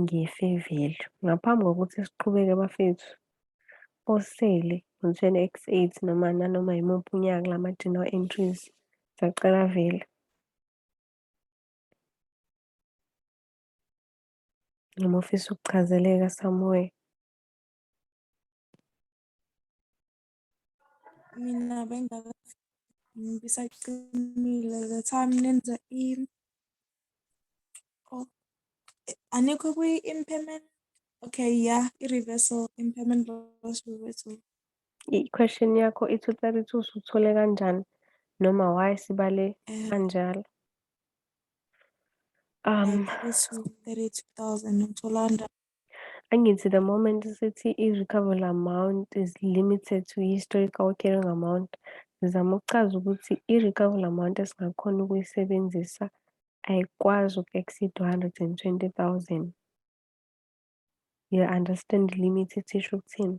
nge-fair value. Ngaphambi kokuthi siqhubeke bafethu, osele ngo-twenty X eight noma nanoma yimuphi unyaka kula ma-journal entries, sacela vele noma ufisa ukuchazeleka somewhere. mina bengisaqinile the time nenza i oh, anikho kwi-impairment okay yeah i-reversal impairment loss reversal i-question yakho ithi utsalithu usuthole kanjani noma why sibale eh. kanjalo um 32,000 uthola Angithi the moment sithi i-recovery amount is limited to historical carrying amount, ngizama ukuchaza ukuthi i-recovery amount esingakhona ukuyisebenzisa ayikwazi uku-exceed 120 000. You understand limited isho ukuthini?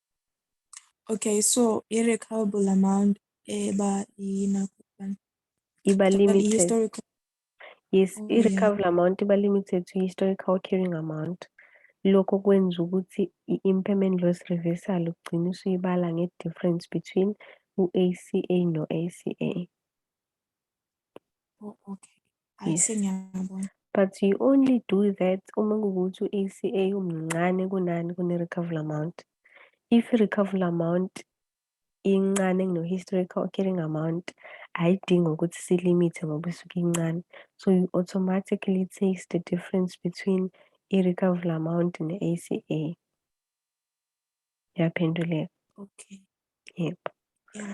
Okay, so i-recoverable amount eba yinakho kubani? iba Total limited i-historical. yes Oh, yeah. i-recovery amount iba limited to historical carrying amount lokho kwenza ukuthi i-impairment loss reversal ugcine usuyibala nge-difference between u-ACA no-ACA Oh, okay. Ayi Yes. sengiyabona. But you only do that uma kuwukuthi u-ACA umncane kunani kune-recovery amount. If i-recovery amount incane kuno-historical carrying amount, ayidingi ukuthi silimithe ngoba isuke incane. So you automatically takes the difference between i-recovery amount ne-ACA. Yaphenduleka. Okay. Yep. Yeah.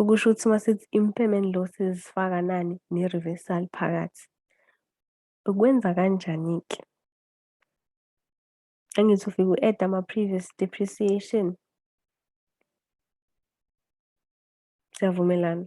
Okusho ukuthi uma sithi impairment losses sifaka nani ne-reversal phakathi. Ukwenza kanjani-ke? Angithi ufike u-add ama-previous depreciation. Siyavumelana.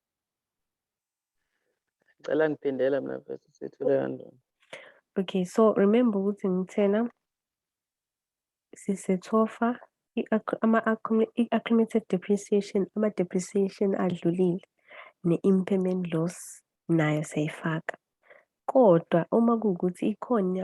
Cela ngiphindela mina mfethu sithule kanjani. Okay, so remember ukuthi ngithena sisethofa i-accumulated depreciation, ama-depreciation adlulile ne-impairment loss nayo siyayifaka. Kodwa uma kuwukuthi ikhona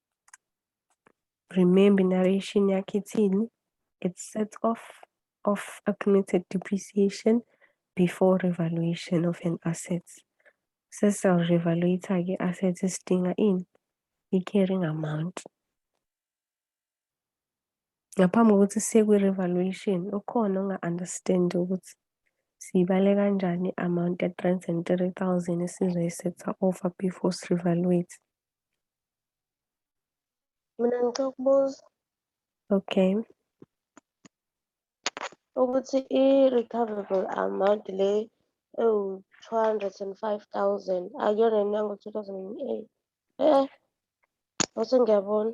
Remember narration yakhe ithini? It sets off of accumulated depreciation before revaluation of an asset. Sesizawurevaluate-ke i-asset esidinga ini? I-carrying amount. Ngaphambi kokuthi siye kwi-revaluation ukhona onga-understand ukuthi siyibale kanjani i-amount ya-303 000 esizoyisetha over before si-revaluate. Mina ngicela ukubuza Okay. ukuthi i-recoverable amount le ewu-two hundred and five thousand akuyona yini yango-two thousand and eight? Eh, ngase ngiyabona.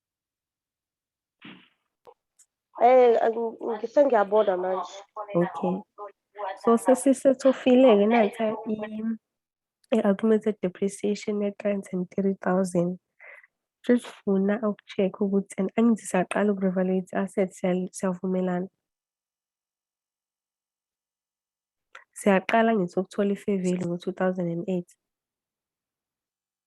Eh ngisengiyabona manje. Okay. So sesisethofiile-ke nansa i-augmented depreciation ye-303,000. Sesifuna uku-check ukuthi and angithi siyaqala uku-revalute assets siyavumelana. Siyaqala ngithi ukuthola i-fair value ngo-2008.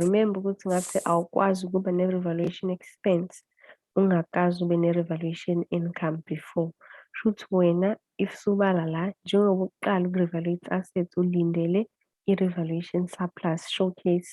Remember ukuthi ngathi awukwazi ukuba ne-revaluation expense ungakaze ube ne-revaluation income before. Shuthi wena if subala la njengoba uqala uku-revalute assets ulindele i-revaluation surplus showcase.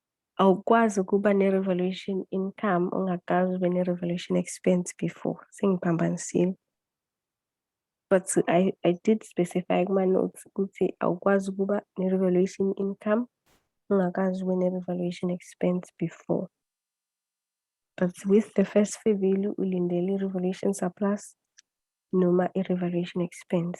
awukwazi ukuba ne-revolution income ungakaze ube ne-revolution expense before sengiphambanisile but I, I did specify kuma-notes ukuthi awukwazi ukuba ne-revolution income ungakaze ube ne-revolution expense before but with the first fair value ulindele i-revolution surplus noma i-revolution expense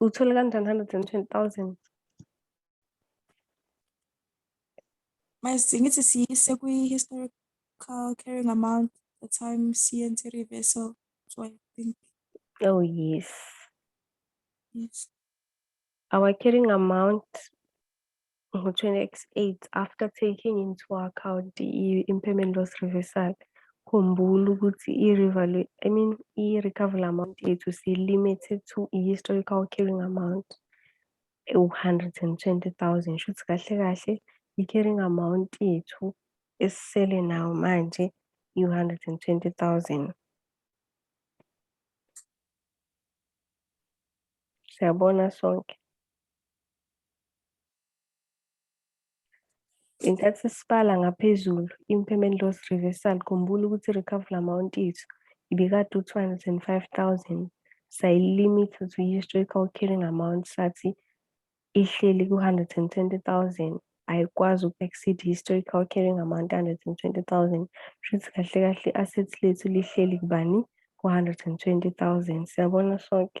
uthole kanjani 120,000 Mase ngithi siyise kwi-historical carrying amount the time siyenze reversal. So I think oh yes yes. our carrying amount ngo-20x8 after taking into account i-impairment loss reversal khumbula ukuthi i-revalue I mean i-recovery amount yethu si-limited to i-historical carrying amount ewu-120,000 shuthi kahle kahle i-carrying amount yethu esisele nawo manje i-120,000 siyabona sonke Ngenkathi sibala ngaphezulu, i-impairment loss reversal, khumbula ukuthi i-recoverable amount yethu ibikade u-205,000, sayi-limit to i-historical carrying amount, sathi ihleli ku-120,000, ayikwazi uku-exceed i-historical carrying amount, 120,000. Shuthi kahle kahle i-assets lethu lihleli kubani? Ku-120,000. Siyabona sonke?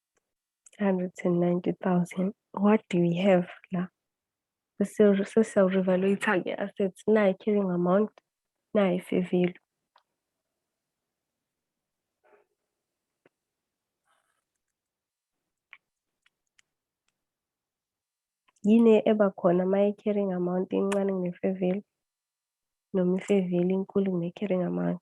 190,000. What do we have la? Sesiyawurivaluate ke assets nayi carrying amount nayi fair value. Yini eba khona uma i-carrying amount incane kune-fair value noma i-fair value inkulu kune-carrying amount?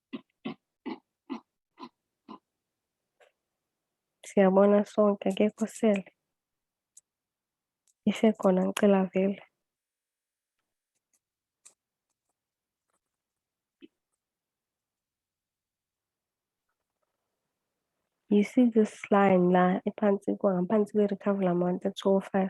Siyabona sonke akekho sele. Isekhona ngicela vele. You see this line la ephansi ngaphansi kwe-recovery amount at-205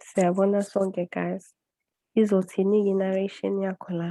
Siyabona sonke guys. Izothini-ke i-narration yakho la?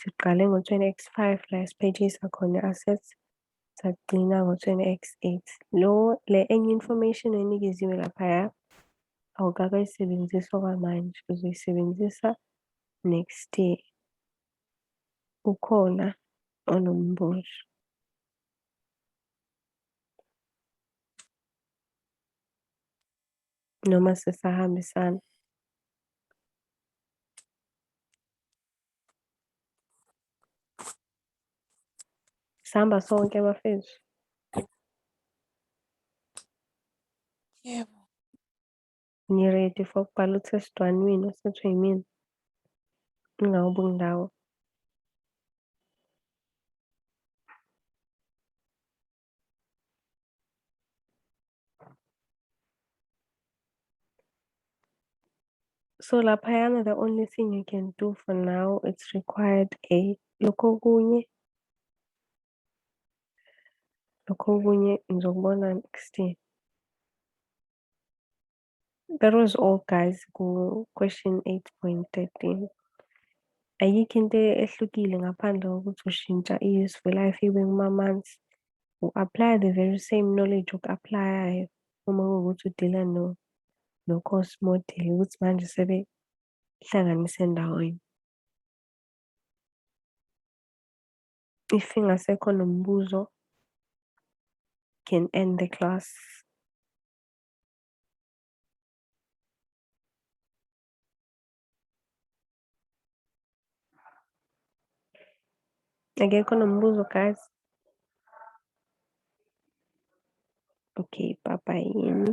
siqale ngo-20x5 la siphetshisa khona assets sagcina ngo-20x8 lo le enye information enikeziwe laphaya awukakayisebenziswa kwamanje uzoyisebenzisa next year ukhona onombuzo noma sisahambisana Sihamba sonke bafethu. Yebo. Niredi for ukubhala ukuthi esidwani mina osethwe yimina. Ngingawubuki ndawo. So laphayana the only thing you can do for now it's required a lokho okunye lokho okunye ngizokubona next year. That was all guys ku question 8.13. Ayikho into ehlukile ngaphandle kokuthi ushintsha i-useful life ibe kuma-months. U-apply the very same knowledge oku-aplayayo uma kuwukuthi udila no no-course model ukuthi manje sebehlanganise ndawonye. If ingasekho nombuzo, can end the class. Akekho nombuzo guys. Okay, bye bye yini.